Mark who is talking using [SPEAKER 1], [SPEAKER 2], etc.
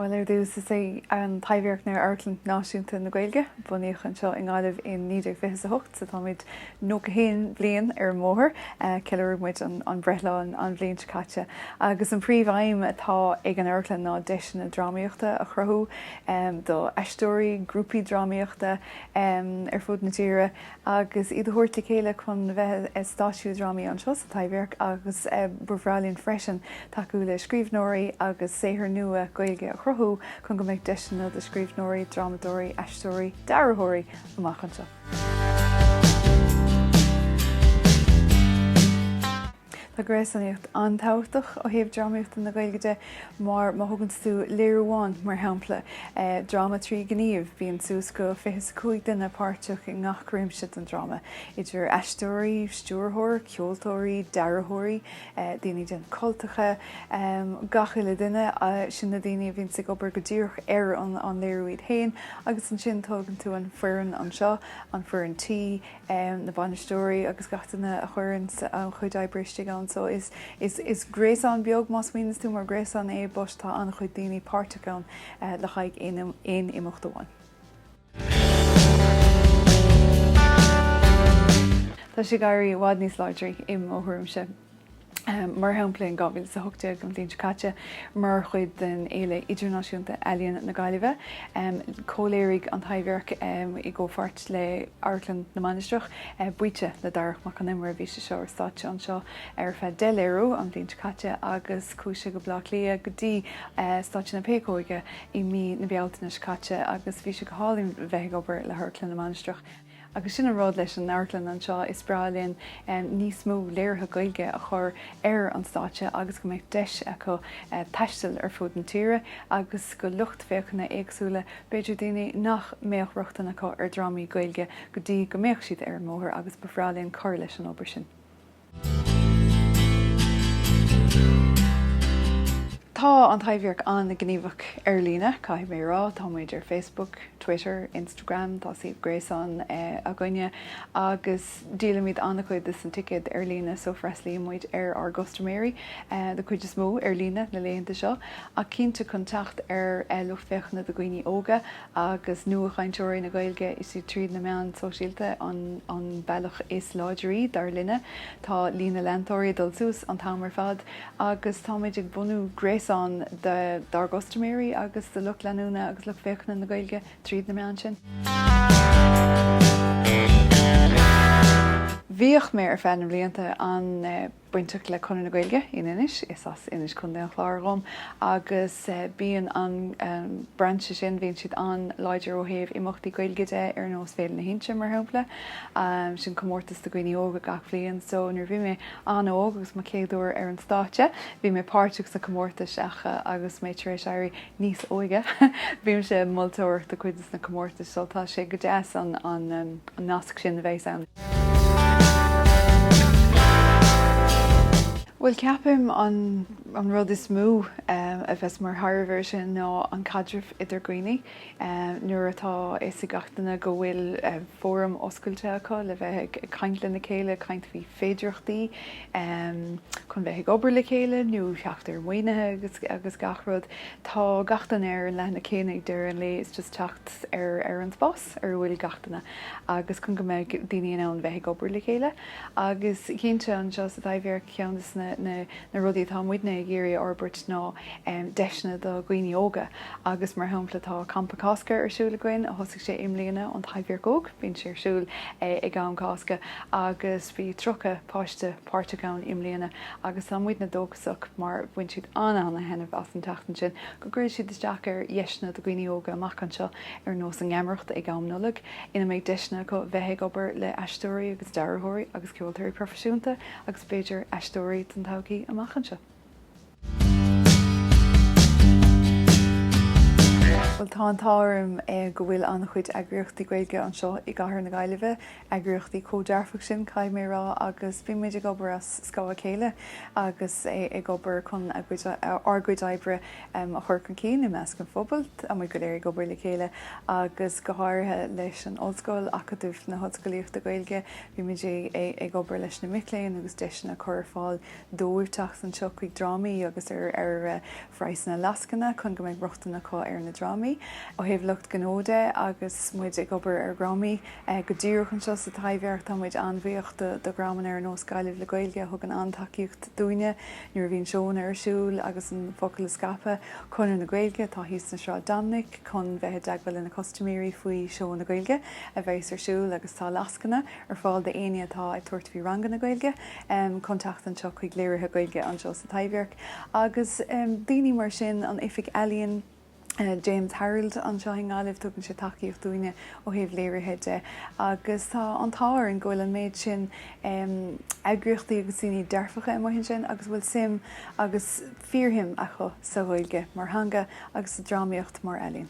[SPEAKER 1] Bhuel, ar dtús, is é an Taibhdhearc ná Amharclann Náisiúnta na Gaeilge. Bunaíodh anseo i nGaillimh in 1928 so táimid 91 bliain ar an mbóthar. Cheiliúraigh muid an breithlá an bhliain seo caite agus an príomhaidhm atá ag an amharclann ná deiseanna drámaíochta a chruthú do aisteoirí, grúpaí drámaíochta, ar fud na tíre agus iad a thabhairt le chéile chun bheith ag stáitsiú drámaí anseo sa Taibhdhearc agus ba bhreá linn freisin tacú le scríbhneoirí agus saothar nua Gaeilge a chruthú chun go mbeidh deiseanna do scríbhneoirí, drámadóirí, aisteoirí, dearthóirí amach anseo. Tá gréasánaíocht an-tábhachtach ó thaobh drámaíochta na Gaeilge de mar má thuganns tú léiriú amháin, mar shampla, dráma trí gníomh, bíonn suas go fiche is a cúig duine páirteach i ngach réimse den dráma, idir aisteoirí, stiúrthóir, ceoltóirí, dearthóirí, daoine den cultacha, gach uile duine, sin na daoine a bhíonns ag obair go díreach ar an léiriú iad fhéin agus ansin tógann tú an fhoireann anseo, an fhoireann tí, na bainisteoirí agus gach duine a chuireanns an chuid oibre istigh ann. So is gréasán beag, má smaoiníos tú mar gréasán é, but tá an-chuid daoine páirteach ann le haghaidh aon imeacht amháin. Tá sé ag éirí i bhfad níos láidre, i mo thuairimse. mar shampla in 2018, an bhliain seo caite, mar chuid den Fhéile Idirnáisiúnta Ealaíon na Gaillimhe. Chomhléirigh An Taibhdhearc, i gcomhpháirt le hAmharclann na Mainistreach, Baoite le Darach Mac Con Iomaire, bhí sé seo ar stáitse anseo ar feadh deich léiriú an bhliain seo caite agus chuaigh sé go Baile Átha Cliath go dtí Stáitse na Péacóige i mí na Bealtaine seo caite agus bhí sé go hálainn bheith ag obair le hAmharclann na Mainistreach. Agus sin an rud leis an amharclann anseo, is breá linn níos mó léirithe Gaeilge a chur ar an stáitse agus go mbeadh deis acu taisteal ar fud na tíre agus go lucht féachana éagsúla, b'fhéidir daoine nach mbeadh rochtain acu ar dhrámaí Gaeilge go dtí go mbeadh siad ar an mbóthar agus ba bhreá linn cur leis an obair sin. Tá An Taibhdhearc an-ghníomhach ar líne, caithfidh mé a rá. Tá muid ar Facebook, Twitter, Instagram, tá suíomh gréasáin againne agus díolaimid an-chuid de na ticéid ar líne so freastlaíonn muid ar ár gcustaiméirí, den chuid is mó, ar líne na laethanta seo. Ach cinnte, chun teacht ar lucht féachana do dhaoine óga, agus nuachainteoirí na Gaeilge, is iad tríd na meáin shóisialta an bealach is láidirí, dar linne. Tá líon na leantóirí ag dul suas an t-am ar fad agus táimid ag bunú gréasán dár gcustaiméirí agus de lucht leanúna agus lucht féachana na Gaeilge tríd na meáin sin. Bhíodh mé, ar feadh blianta, an- bainteach le Conradh na Gaeilge in Inis, is as Inis, Co. an Chláir dhom, agus bíonn an brainse sin, bíonn siad an-láidir ó thaobh imeachtaí Gaeilge de, ar nós Féile na hInse, mar shampla. Sin comórtas do dhaoine óga gach bliain. So, nuair a bhí mé an-óg agus mo chéad uair ar an stáitse, bhí mé páirteach sa comórtas acu agus mé tar éis éirí níos óige. Bímse ag moltóireacht do chuid de na comórtais so tá sé go deas an nasc sin a bheith ann. Bhuel, ceapaim an rud is mó a bheas mar thairbhe air sin ná an caidreamh idir dhaoine. Nuair atá a fhios ag gach duine go bhfuil fóram oscailte acu le bheith ag caint lena chéile, ag caint faoi féidireachtaí chun bheith ag obair le chéile nó theacht ar mhaoinithe agus gach rud. Tá gach duine ar an leathanach céanna ag deireadh an lae, it's just teacht ar an spás ar a bhfuil gach duine agus chun go mbeidh daoine in ann bheith ag obair le chéile. Agus cinnte, anseo sa Taibhdhearc, ceann de na rudaí atá muidne ag iarraidh a fhorbairt ná deiseanna do dhaoine óga agus mar shampla tá Campa Cásca ar siúl againn a thosaigh sé i mbliana, an Taibhdhearc Óg. Bíonn sé ar siúl ag am Cásca agus bhí 30 páiste páirteach ann i mbliana agus tá muidne dóchasach mar bhain siad an-an-thaitneamh as an tseachtain sin go gcuirfidh siad isteach ar dheiseanna do dhaoine óga amach anseo ar nós an gheamaireacht ag am Nollag ina mbeidh deiseanna acu bheith ag obair le aisteoirí agus dearthóirí agus ceoltóirí proifisiúnta agus b'fhéidir aisteoirí don todhchaí amach anseo. Bhuel, tá an t-ádh orm go bhfuil an-chuid eagraíochtaí Gaeilge anseo i gcathair na Gaillimhe, eagraíochtaí chomh dearfach sin, caithfidh mé a rá, agus bíonn muid ag obair as scáth a chéile agus ag obair chun ár gcuid oibre a chur chun cinn i measc an phobail. Tá muid go léir ag obair le chéile agus go háirithe leis an Ollscoil, Acadamh na hOllscolaíochta Gaeilge, bíonn muid ag obair leis na mic léinn agus deiseanna a chur ar fáil dóibh teacht anseo chuig drámaí agus ar ar phraghsanna lascaine chun go mbeidh rochtain acu ar na drámaí. Ó thaobh lucht gnó de, agus muid ag obair ar dhrámaí go díreach anseo sa Taibhdhearc, tá muid an-bhuíoch do dhreamanna ar nós Gaillimh le Gaeilge a thugann an-tacaíocht dúinne nuair a bhíonn seónna ar siúl agus an focal a scaipeadh. Conradh na Gaeilge, atá thíos ar Shráid Dominic, chun bheith i dteagmháil lena custaiméirí faoi seónna Gaeilge a bheas ar siúl agus tá lascaine. ar fáil d'éinne atá ag tabhairt faoi ranganna Gaeilge, chun teacht anseo chuig léirithe Gaeilge anseo sa Taibhdhearc agus daoine mar sin, an Oifig Ealaíon, James Harrold anseo i nGaillimh, tugann sé tacaíocht dúinne ó thaobh léirithe de agus tá an t-ádh orainn go bhfuil an méid sin eagraíochtaí agus daoine dearfacha amuigh ansin a bhfuil suim agus fíorshuim acu sa Ghaeilge mar theanga agus sa drámaíocht mar ealaín.